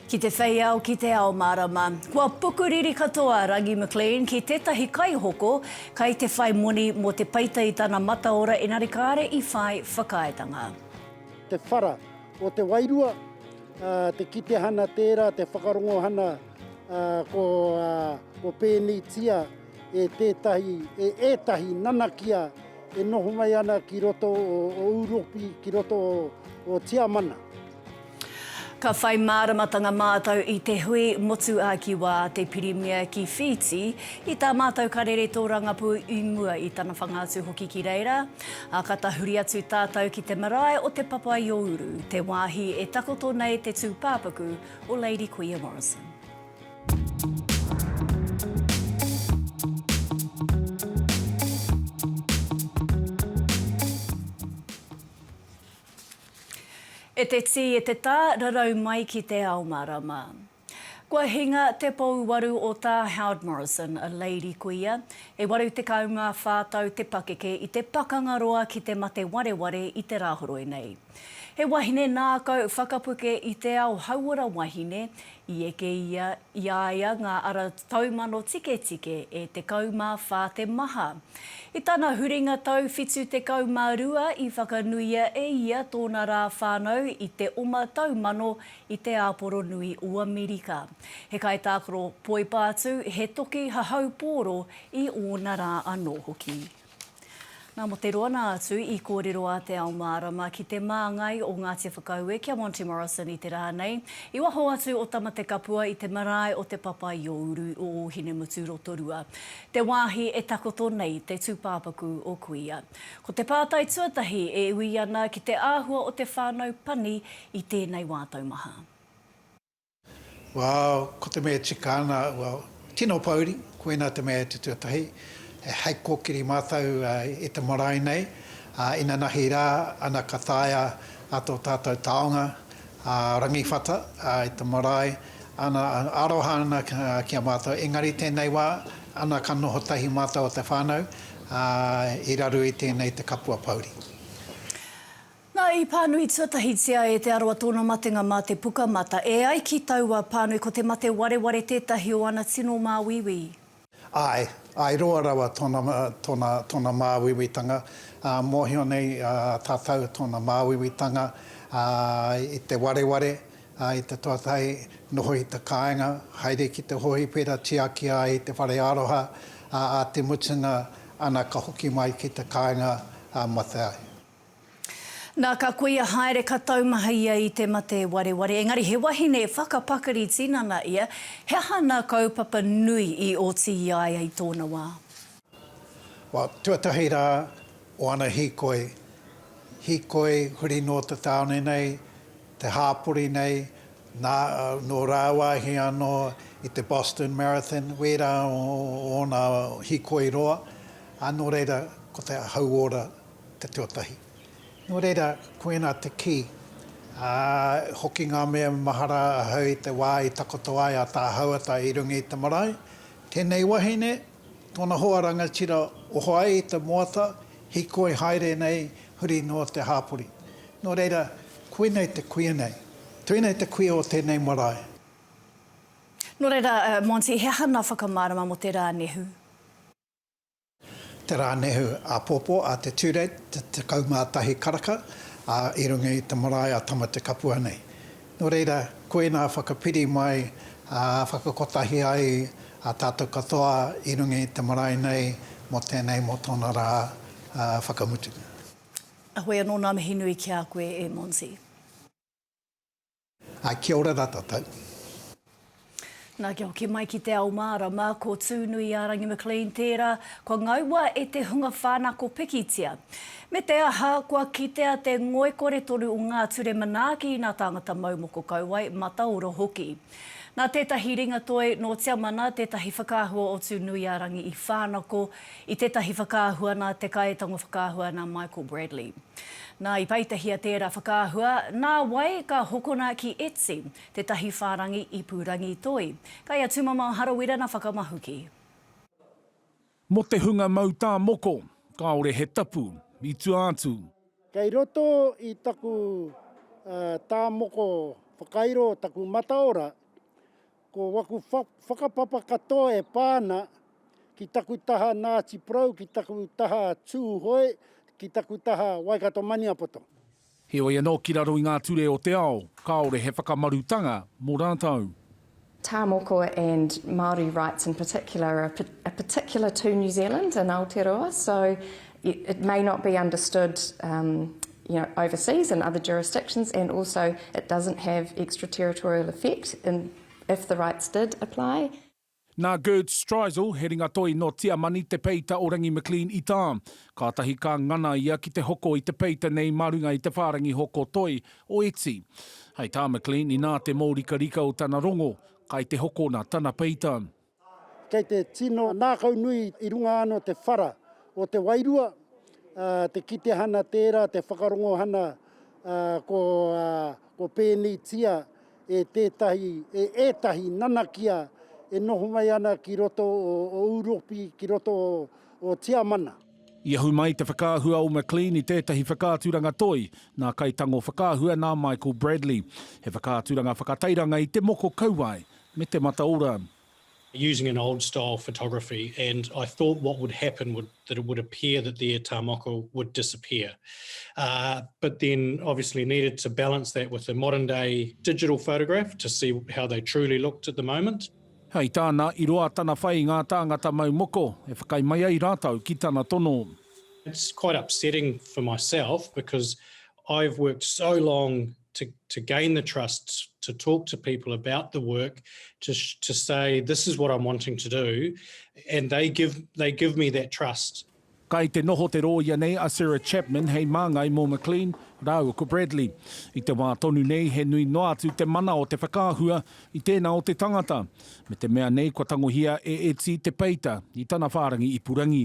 Ki te whei ao, ki te ao mārama. Kua pukuriri katoa a Rangi McLean ki tētahi kaihoko kai te whai moni mō te peita i tana mataora engari kāre i whai whakaaetanga. Te whara o te wairua, te kitehana tērā, te whakarongohana ko pēneitia. e tētahi, e ētahi nanakia e noho mai ana ki roto o, o Uropi, ki roto o, o Tiamana. Ka whai māramatanga mātou i te hui motuāki wā te Pirimia ki Whītī, i tā mātou karere tōrangapū i mua i tana whanga atu hoki ki reira, ā, ka tahuri atu tātou ki te marae o Te Papa-i-ō-uru, te wāhi e takoto nei te tūpāpaku o Lady Kuia Morrison. E te tī, e te tā, rarau mai ki te ao marama. Kua hinga te pouwaru o tā Howard Morrison, a lady kuia. E 84 tau te pakeke i te pakanga roa ki te mate wareware i te Rāhoroi nei. He wahine nākau whakapuke i te ao hauora wahine, i eke ia i a ia ngā ara taumano tiketike e 14 te maha. I tana huringa tau 72 i whakanuia e ia tōna rā whānau i te oma tau mano i te Āporo Nui o Amerika. He kaitākaro poipātū, he toki hahau pōro i ōna rā anō hoki. Nā, mō te roana atu i kōrero a Te Ao Mārama ki te māngai o Ngāti Whakaue ki a Monty Morrison i te rā nei, i waho atu o Tamatekapua i te marae o Te Papa-i-ō-uru o Ōhinemutu Rotorua, te wāhi e takoto nei te tūpāpaku o Kuia. Ko te pātai tuatahi e ui ana ki te āhua o te whānau pani i tēnei wā taumaha. Wao, ko te mea e tika ana, wao, tino pouri, koina te mea e te tuatahi, hei kokiri matou i te marae nei, inanahi ra, ana ka taea a to tatou taonga, a Rangiwhata, i te marae, ana, aroha ana ki a matou, engari tenei wa, ana ka noho tahi matou o te whanau, i raru i tenei te kapua pouri. Na, i pānui tuatahitia e Te Arawa tōna matenga mā te Pukamata. E ai ki taua pānui, ko te mate wareware tētahi o ana tino māuiui i. Āe, āe roa rawa tōna, tōna, tōna māuiuitanga, ā, mōhio nei tātou tōna māuiuitanga, ā, i te wareware, ā, i te tuatahi, noho i te kāinga, haere ki te hōhipera, tiaki ai te whare aroha, ā, ā te mutunga, ana ka hoki mai ki te kāinga, ā, mate ai. Na ka kuia haere ka taumaha ia i te mate wareware engari he wahine whakapakari tinana ia, he aha na kaupapa nui i oti i a ia i tona wa? Wa tuatahi ra o ana hikoi, hikoi huri no te taone nei, te hapori nei, na no rawahi ano i te Boston Marathon, wera o ona hikoi roa, a no reira ko te hauora te tuatahi. Nō reira, koinā te kī, ā, hoki ngā mea mahara ahau i te wā i takoto ai a Tā Hauata i runga i te marae, tēnei wahine, tōna hoa rangatira, oho ai i te moata, hīkoi haere nei, huri noa te hāpori. Nō reira, koinei te kuia nei. Tēnei te kuia o tēnei marae. Nō reira, Monty, he aha ngā whakamārama mō te rā nehu? Te Rānehu Āpōpō a te Tūreit, te 11 karaka, ā, i runga i te marae a Tamatekapua nei. Nō reira, koinā whakapiri mai, ā, whakakotahi ai a tātou katoa i runga i te marae nei mō tēnei, mō tōna rā whakamutunga. Ahoy anō ngā mihi nui ki a koe e Monty. Ā, kia ora rā tātou. Nā, kia hoki mai ki te ao mārama, ko Tūnuiārangi McLean tērā kua ngaua e te hunga whānako pikitia. Me te aha, kua kitea te ngoikore tonu o ngā ture manaaki nā tāngata mau moko kauae, mataoro hoki. Nā tētahi ringatoi nō Tiamana, tētahi whakaahua o Tūnuiārangi i whānako, I tētahi whakaahua nā te Kāetango Whakaahua nā Michael Bradley. Nā, i peitahia tērā whakaahua, nā wai ka hokona ki Etsy, tētahi whārangi ipurangi toi. Kei a Tūmamao Harawira na whakamahuki. Mo te hunga mau tā moko, kāore he tapu i tua atu. Kei roto i taku tā moko whakairo taku mataora, Ko waku whakapapa katoa e pā ana ki taku taha Ngāti Porou, ki taku taha Tūhoe, ki taku taha Waikato-Maniapoto. Heoi anō ki raro i ngā ture o te ao, kāore he whakamarutanga mō rātou. Tāmoko and Māori rights in particular are particular to New Zealand and Aotearoa, so it may not be understood you know, overseas in other jurisdictions and also it doesn't have extraterritorial effect in if the rights did apply. Nā Gerd Streisel, he ringatoi nō Tiamani, te peita o Rangi McLean i tā. Kātahi ka ngana ia ki te hoko i te peita nei mā runga i te whārangi hoko toi o iti. Hei tā McLean, inā te mōrikarika o tana rongo, kai te hokona tana peita. Kei te tino nākau nui i runga anō o te whara o te wairua, te kitehana tērā, te whakarongohana kua pēneitia e tētahi, e ētahi nanakia e noho mai ana ki roto o Ūropi, ki roto o Tiamana. I ahu mai te whakaahua o McLean i tētahi whakaaturanga toi nā Kaitango Whakaahua nā Michael Bradley. He whakaaturanga whakatairanga i te moko kauae, me te mataora. using an old style photography and I thought what would happen would that it would appear that the e tā moko would disappear uh but then obviously needed to balance that with the modern day digital photograph to see how they truly looked at the moment. Hei tāna, i roa tana whai i ngā tāngata mau moko, e whakaae mai ai rātou ki tana tono. It's quite upsetting for myself because I've worked so long to, to gain the trust, to talk to people about the work, to, to say, this is what I'm wanting to do, and they give, they give me that trust. Kai te noho te rōia nei a Sarah Chapman hei māngai mō McLean rāua ko Bradley. I te wā tonu nei he nui noa atu te mana o te whakaahua i tēnā o te tangata, me te mea nei kua tangohia e Eti te peita i tana whārangi ipurangi.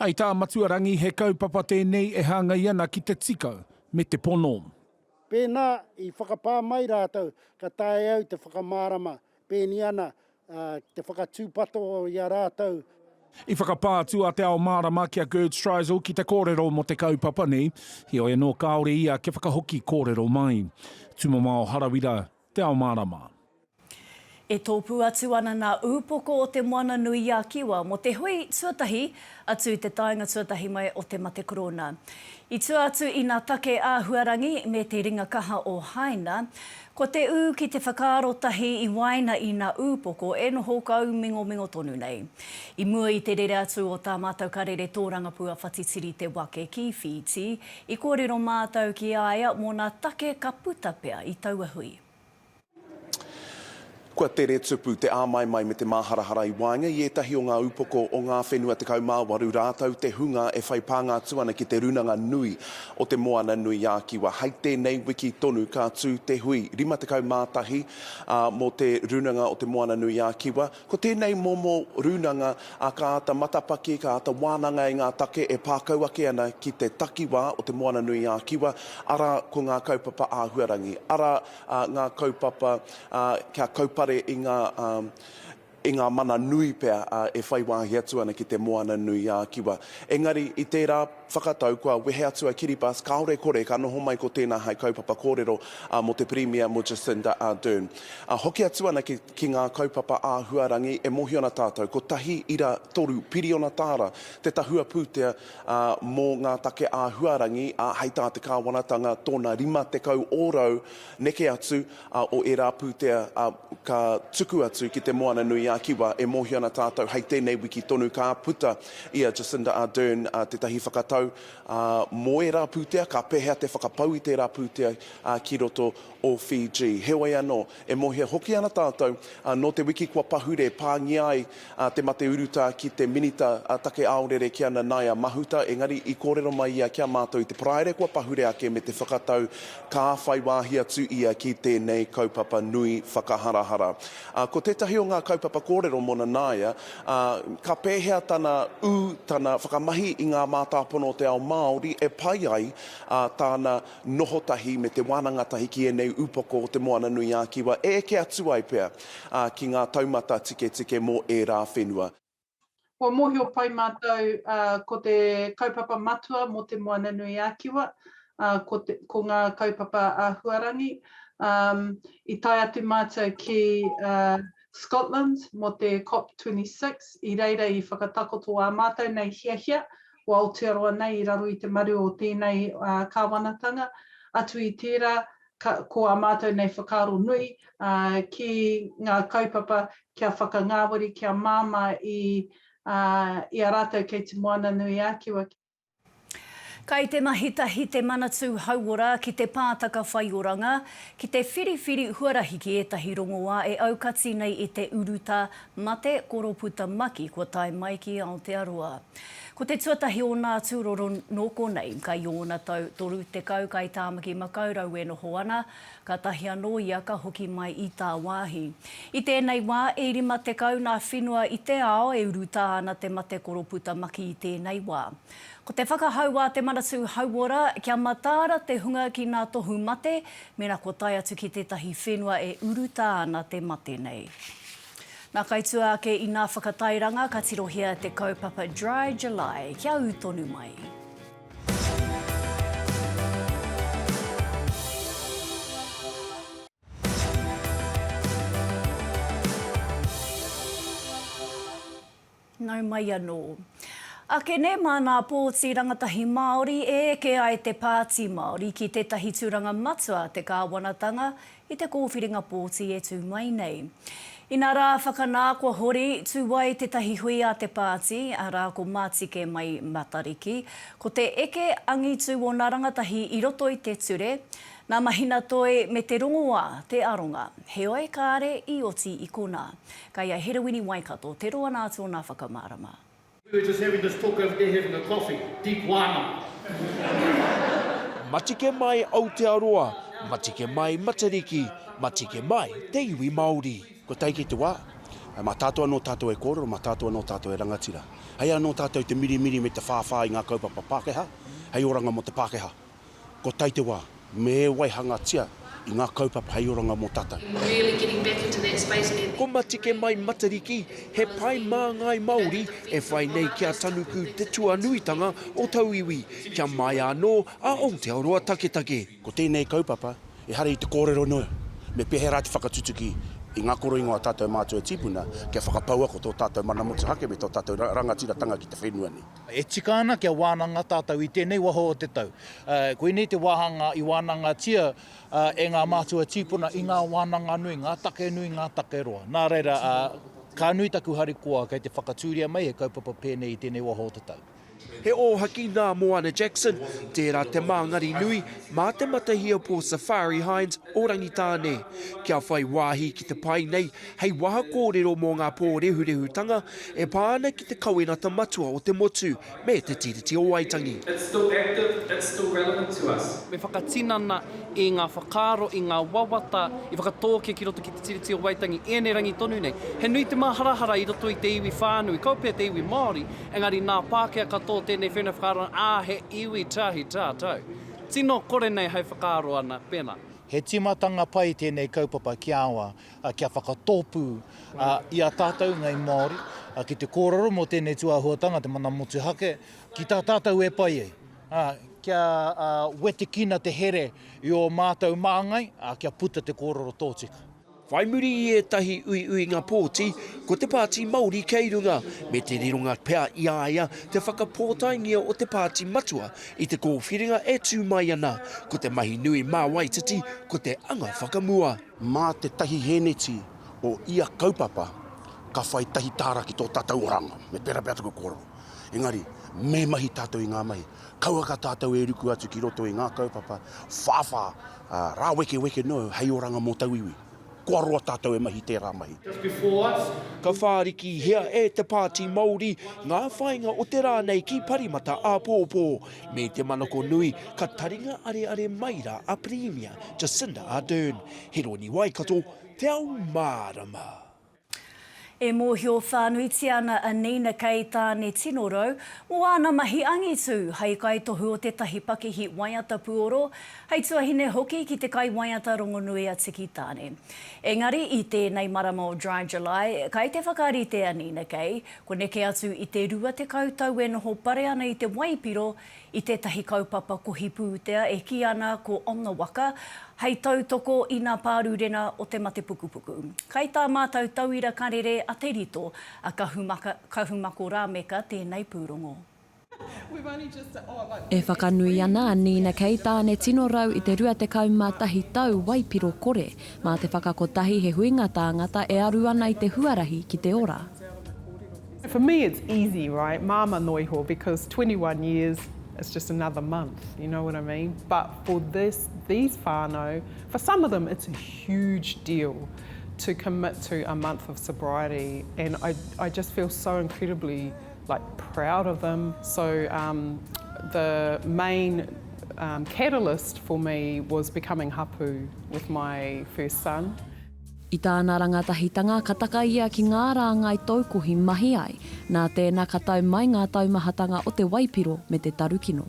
Hei tā Matua Rangi he kaupapa tēnei e hāngai ana ki te tika me te pono. Pēnā i whakapā mai rātou ka taea au te whakamārama pēni ana te whakatūpato i a rātou. I whakapā atu a Te Ao Mārama ki a Gerd Streisel ki te kōrero mō te kaupapa nei, heoi anō kāore ia kia whakahoki kōrero mai. Tūmamao Harawira, Te Ao Mārama. E tōpū atu ana ngā ūpoko o Te Moana-nui-a-Kiwa mō te hui tuatahi atu i te taenga tuatahi mai o Te Mate Korona. I tua atu i ngā take āhuarangi me te ringa kaha o Haina, ko te ū ki te whakaaro tahi i waena i ngā ūpoko e noho kaumingomingo tonu nei. I mua i te rere atu o tā mātou karere tōrangapū a Whatitiri Te Wake ki Whītī, i kōrero mātou ki a ia mō ngā take ka puta pea i taua hui. Kua tere tupu te āmaimai me te māharahara i waenga i ētahi o ngā upoko o ngā whenua 18 rātou te hunga e whai pānga atu ana ki te runanga nui o te Moana nui ā Kiwa. Hai tēnei wiki tonu ka tū te hui 51 ā mō te runanga o te Moana nui ā Kiwa, Ko tēnei momo rūnanga a ka āta matapaki, ka āta wānanga e ngā take e pākau ake ana ki te takiwā o Te Moana-nui-ā-Kiwa, arā, ko ngā kaupapa āhuarangi, arā, ngā kaupapa kia kaupare i ngā i ngā mana nui pea e whai wāhi atu ana ki Te Moana-nui-ā-Kiwa. Engari, i tērā. Whakatau, kua wehe atu a Kiribati kāore kore ka noho mai ko tēnā hai kaupapa kōrero mō te Pirimia, mō Jacinda Ardern. Hoki atu ana ki ngā kaupapa āhuarangi e mōhio ana tātou, 1.3 piriona tāra te tahua pūtea mō ngā take āhuarangi hai tā te kāwanatanga tōna 50 ōrau neke atu o ērā pūtea ka tuku atu ki te Moana-nui-ā-Kiwa e mōhio ana tātou hai tēnei wiki tonu ka puta I a Jacinda Ardern tētahi whakatau mō ērā pūtea, ka pēhea te whakapau i tērā pūtea ki roto o Fiji. Heoi anō, e mōhia hoki ana tātou, nō te wiki kua pahure pāngia ai te mate urutā ki te Minita Take Aorere ki ana Naia Mahuta, engari i kōrero mai ia ki a mātou i te Paraire kua pahure ake me te whakatau ka whai wāhi atu ia ki tēnei kaupapa nui whakaharahara. Ā, ko tētahi o ngā kaupapa kōrero mō Nanaia, ā, ka pēhea tana ū, tana whakamahi i ngā mātāpono o te ao Māori e pai ai, ā, tāna noho tahi me te wānanga tahi ki ēnei upoko o Te Moananui-ā-Kiwa e eke atu ai pea, ā, ki ngā taumata tiketike mō ērā whenua. Kua mōhio pai mātou ko te kaupapa matua mō Te Moananui-a-Kiwa ko ngā kaupapa āhuarangi. I tae atu mātou ki Scotland mō te COP26, i reira i whakatakoto ā mātou nei hiahia o Aotearoa nei i raro i te maru o tēnei kāwanatanga, atu i tērā ko ā mātou nei whakaaro nui ki ngā kaupapa kia whakangāwari, kia māmā i a rātou kei Te Moananui-a-Kiwa. Kei te mahi tahi te Manatū Hauora ki te Pātaka Whaioranga ki te whiriwhiri huarahi ki ētahi rongoā e aukati nei i te urutā Mate, ko Roputa Maki kua tae mai ki Aotearoa. Ko te tuatahi ōna atu roro nō konei, ka i ōna tau 30 kai Tāmaki Makaurau e noho ana, kātahi anō ia ka hoki mai i tāwāhi. I tēnei wā, e 50 ngā whenua i te ao e urutā ana te mate ko Roputa Maki i tēnei wā. Ko te whakahau a Te Manatū Hauora kia mataara te hunga ki ngā tohu mate, mēnā kua tae atu ki tētahi whenua e urutā ana te mate nei. Nā Kaituā ake inā whakatairanga ka tirohia te kaupapa Dry July kia ū tonu mai. Nau mai anō. Ake nē mānā pōti rangatahi Māori e eke ai te Pāti Māori ki tētahi tūranga matua te kāwanatanga i te kōwhiringa pōti e tū mai nei. Inā rā, whakanā kua hori, tū ai tētahi hui a te pāti, arā ko Matike Mai Matariki, ko te eke angitu ōna rangatahi i roto i te ture, nā Mahinatoi me te rongoā te aronga. Heoi kāre i oti i konā. Kei a Herewini Waikato te roa nā tōnā whakamārama. We were just having this talk over there having a coffee. Deep wānanga. Matike mai Aotearoa, matike mai Matariki, matike mai te iwi Māori. Kua tae ki te wā, mā tātou anō tātou e kōrero, mā tātou anō tātou e rangatira. Hei anō tātou te mirimiri me te whāwhā i ngā kaupapa Pākehā, hei oranga mō te Pākehā. Kua tae te wā, me e waihangatia i ngā kaupapa hei oranga mō tātou. Ko Matike Mai Matariki, he pae māngai Māori e whai nei ki a Tanuku te tuanuitanga o tauiwi, kia māia anō a Aotearoa taketake. Ko tēnei kaupapa, ehara i te kōrero noa, me pēhērā te whakatutuki i ngā koroingo a tātou mātua tīpuna kia whakapaua ko tō tātou mana motuhake me tō tātou rangatiratanga ki te whenua nei. E tika ana kia wānanga tātou i tēnei waho o te tau. Koinei te wāhanga i wānangatia e ngā mātua tīpuna i ngā wānanga nui, ngā take nui, ngā take roa. Nā reira, ka nui taku harikoa kei te whakatūria mai he kaupapa pēnei i tēnei waho o te tau. He ōhaki nā Moana Jackson, tērā te māngari nui mā Te Matahia Pō Safari Hines o Rangitāne. Kia whai wāhi ki te pae nei, hei waha kōrero mō ngā pōrehurehutanga e pā ana ki te kawenata matua o te motu me Te Tiriti o Waitangi. Me whakatinana i ngā whakaaro, i ngā wawata i whakatōkia ki roto ki Te Tiriti o Waitangi i ēnei rangi tonu nei. He nui te māharahara i roto i te iwi whānui, kaua pea te iwi Māori, engari nā Pākehā katoa tēnei whenua whakaarona, ā, he iwi tahi tātou. Tino kore nei hai whakaaro ana, pēnā. He tīmatanga pai tēnei kaupapa ki aua, kia whakatōpū i a tātou ngāi Māori ki te kōrero mō tēnei tūāhuatanga, te mana motuhake, ki tā tātou e pai ai. Kia wetekina te here i ō mātou māngai, kia puta te kōrero tōtika. Whai muri i ētahi uiuinga pōti, ko te Pāti Māori kei runga, me te rironga pea i a ia te whakapōtaengia o te Pāti Matua i te kōwhiringa e tū mai ana, ko te mahi nui mā Waititi ko te anga whakamua. Mā te tahi hēneti o ia kaupapa ka whai tahi tāra ki tō tātou oranga, me pērā pea taku kōrero. Engari, me mahi tātou i ngā mahi. Kauaka tātou e ruku atu ki roto i ngā kaupapa whāwhā, ā, rāwekeweke noa hei oranga mō tauiwi. Kua roa tātou e mahi tērā mahi. Ka whārikihia e te Pāti Māori ngā whāinga o te rā nei ki Parimata āpōpō, Me te manako nui, ka taringa areare mai rā a Pirimia Jacinda Ardern, he rōni Waikato, te ao mārama. E mōhio whānuitia ana a Nina Kei Tāne tino rau mō āna mahi angitu hei kaitohu o tētahi pakihi waiata puoro, hei tuahine hoki ki te kaiwaiata rongonui a Tiki Tāne. Engari i tēnei marama o Dry July, kai te whakarite a Nina Kei, Kua neke atu i te rua tekau tau e noho pare ana i te waipiro i tētahi kaupapa kohi pūtea e kī ana ko On the Waka, hei tautoko i nā pārurena o te mate pukupuku. Kai tā mātau tauira karere a Te Rito, a Kahumako Rāmeka tēnei pūrongo. E whakanui ana a Nina Keitāne tino rau i te 21 tau waipiro kore mā te whakakotahi he huinga tāngata e aru ana i te huarahi ki te ora. For me it's easy right māmā noa iho because twenty one years it's just another month you know what I mean but for this these whānau for some of them it's a huge deal to commit to a month of sobriety and I I just feel so incredibly like proud of them so um the main um catalyst for me was becoming hapu with my first son. I tāna rangatahitanga ka taka ia ki ngā rāngai taukohi mahi ai, nā tēna ka tau mai ngā taumahatanga o te waipiro me te tarukino.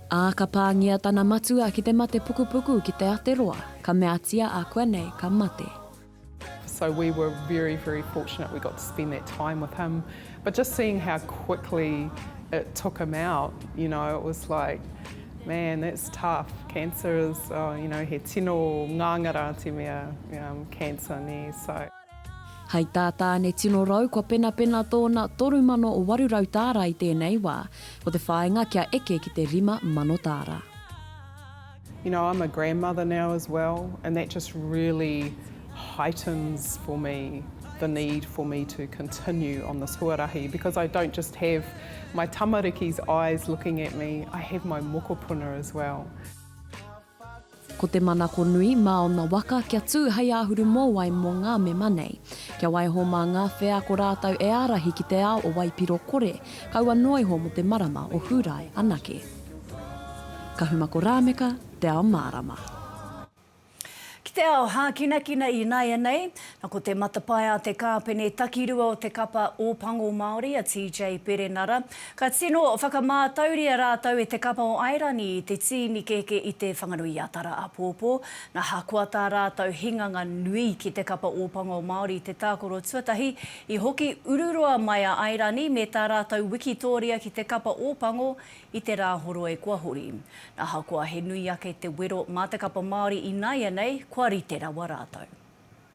Ā, ka pāngia tana matua ki te mate pukupuku ki te Ateroa, ka meatia ākuanei ka mate. So we were very, very fortunate we got to spend that time with him, but just seeing how quickly it took him out, you know, it was like, man, that's tough, cancer is, oh, you know, he tino ngāngara te mea, cancer, nē, so. Hai tā Tāne tino rau kua penapena tōna 3,800 tāra i tēnei wā, ko te whāinga kia eke ki te 5,000 tāra. You know, I'm a grandmother now as well and that just really heightens for me the need for me to continue on this huarahi because I don't just have my tamariki's eyes looking at me, I have my mokopuna as well. Ko te manako nui mā ōna waka kia tū hei āhuru mōwai mō ngā mema nei. Kia waiho mā ngā wheako rātou e ārahi ki te ao o waipiro kore, kaua noa iho mō te marama o Hūrae anake. Kahumako Rāmeka, Te Ao Mārama. Ki te ao hākinakina ināianei, na ko te matapae a te kāpene takirua o te kapa Ōpango Māori a TJ Perenara, Ka tino whakamātauria rātou e te kapa o Airani i te tīni kēkē i Te Whanganui-a-Tara apōpō. Ahakoa tā rātou hinganga nui ki te kapa Ōpanga o Māori i te tākoro tuatahi, i hoki ururoa mai a Airani me tā rātou wikitōria ki te kapa Ōpango i te Rāhoroi kua hori. Ahakoa he nui ake te wero mā te kapa Māori ināianei, kua rite rawa rātou.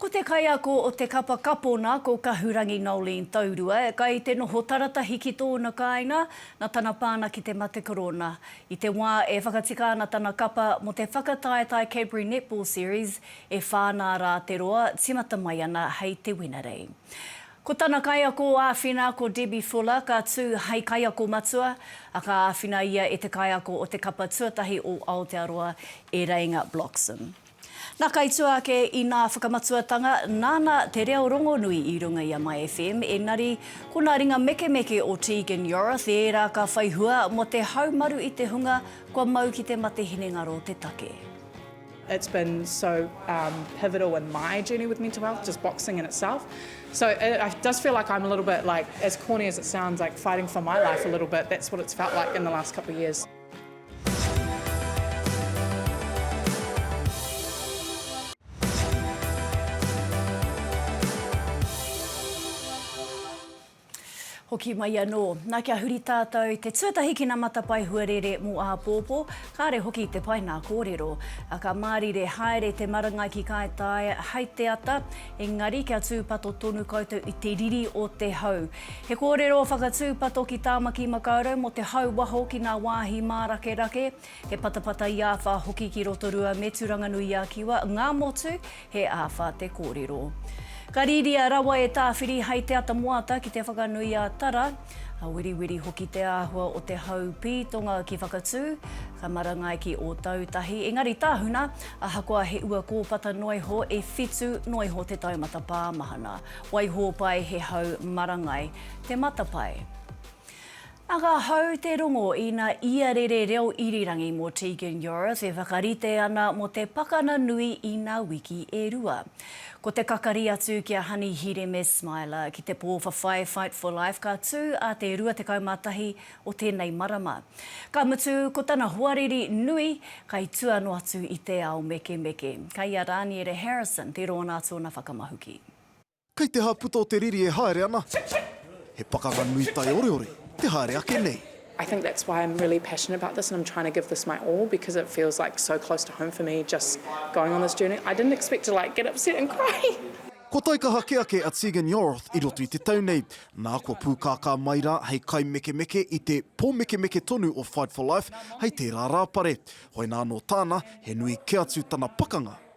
Ko te kaiako o te kapa kapona ko Kahurangi Noeleen Taurua, kai te noho taratahi ki tōna kāinga na tana pāna ki te mate korona. I te wā e whakatika ana tana kapa mo te whakataetae Cadbury Netball Series, e whā nā rā te roa, timata mai ana hei te Wenerei. Ko tana kaiako āwhina ko Debbie Fuller ka tū hei kaiako matua, a ka āwhina ia e te kaiako o te kapa tuatahi o Aotearoa, e Reinga Bloxham. Nā Kaituā ake inā whakamatuatanga, nāna te reo rongonui i runga i a My FM, engari, ko nā ringa mekemeke o Tegan Yorath ērā ka whai hua mō te haumaru i te hunga kua mau ki te mate hinengaro te take. It's been so um pivotal in my journey with mental health, just boxing in itself. So it I does feel like I'm a little bit like, as corny as it sounds, like fighting for my life a little bit, that's what it's felt like in the last couple of years. Hoki mai anō. Nā kia huri tātou te tuatahi ki ngā matapae huarere mō āpōpō, kāre hoki te pae nā kōrero. Ka mārire haere te marangai ki Kāetae hai te ata, engari kia tūpato tonu koutou i te riri o te hau. He kōrero whakatūpato ki Tāmaki Makaurau mō te hau waho ki ngā wāhi mārakerake, he patapata i āwhā hoki ki Rotorua me Tūranganui-a-Kiwa, ngā motu, he āwhā te kōrero. Ka rīria rawa e Tāwhiri hai te ata moata ki te whakanui a Tara, ka weriweri hoki te āhua o te hau pītonga ki Whakatū, ka marangai ki Ōtautahi, engari tahuna, ahakoa he ua kōpata noiho, e whitu noiho te taumata pāmahana. Waihōpae he hau marangai te matapae. Nā ka hau te rongo i nā ia rere reo irirangi mō Tegan Yorath e whakarite ana mō te pakana nui i nā wiki e rua. Ko te kakari atu ki a Honey Hireme Smiler ki te pō whawhai Fight for Life ka tū a te 21 o tēnei marama. Ka mutu ko tana hoariri nui kai tua noa atu i te ao mekemeke. Kai a Raniere Harrison te rōna tōna whakamahuki. Kei te ha puta o te riri e haere ana. He pakanga nui taioreore te haere ake nei. I think that's why I'm really passionate about this and I'm trying to give this my all because it feels like so close to home for me just going on this journey. I didn't expect to like get upset and cry. Kua taikaha kē ake a Tegan Yorroth i roto i te tau nei, nā kua pūkākā mai rā hei kaimekemeke i te pōmekemeke tonu o Fight for Life hei tērā rāpare. Hoina anō tāna, he nui kē atu tana pakanga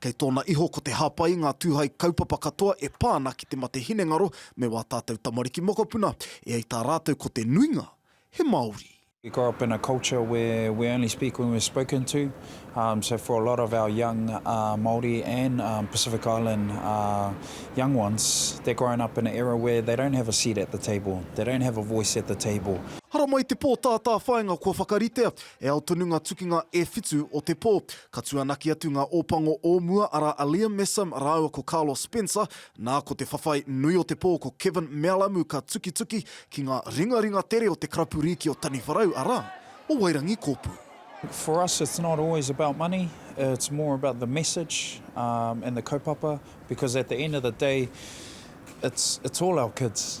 Kei tōna iho ko te hāpai i ngā tūhai kaupapa katoa e pā ana ki te mate hinengaro me wā tātou tamariki mokopuna, e ai tā rātou ko te nuinga he Māori. We grow up in a culture where we only speak when we're spoken to, so for a lot of our young Māori and Pacific Island young ones, they're growing up in an era where they don't have a seat at the table, they don't have a voice at the table. Haramai te pō tātāwhāinga kua whakaritea, E ao tonu ngā tukinga e whitu o te pō. Ka tuanaki atu ngā ōpango o mua, arā a Liam Messam rāua ko Carlos Spencer, nā ko te whawhai nui o te pō ko Kevin Mealamu ka tukituki ki ngā ringaringa tere o te karapu rīki o Taniwharau, arā, o Wairangikōpū. For us it's not always about money, it's more about the message and the kaupapa because at the end of the day it's it's all our kids.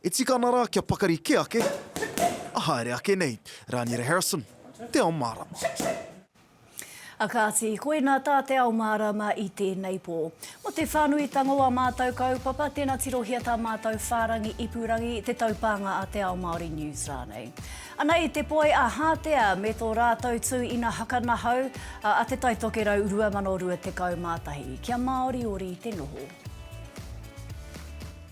E tika ana rā kia pakari kē ake, a haere ake nei. Rāniera Harrison, Te Ao Mārama. A Kāti, koina tā Te Ao Mārama i tēnei pō. Mō te whānuitanga o ā mātou kaupapa, tēnā tirohia tā mātou whārangi ipurangi Te Taupānga a Te Ao Māori News rānei. Ana i te poi a Hātea me tō rātou tū ina haka nahau a a Te Tai Tokerau 2021. Kia māoriori te noho.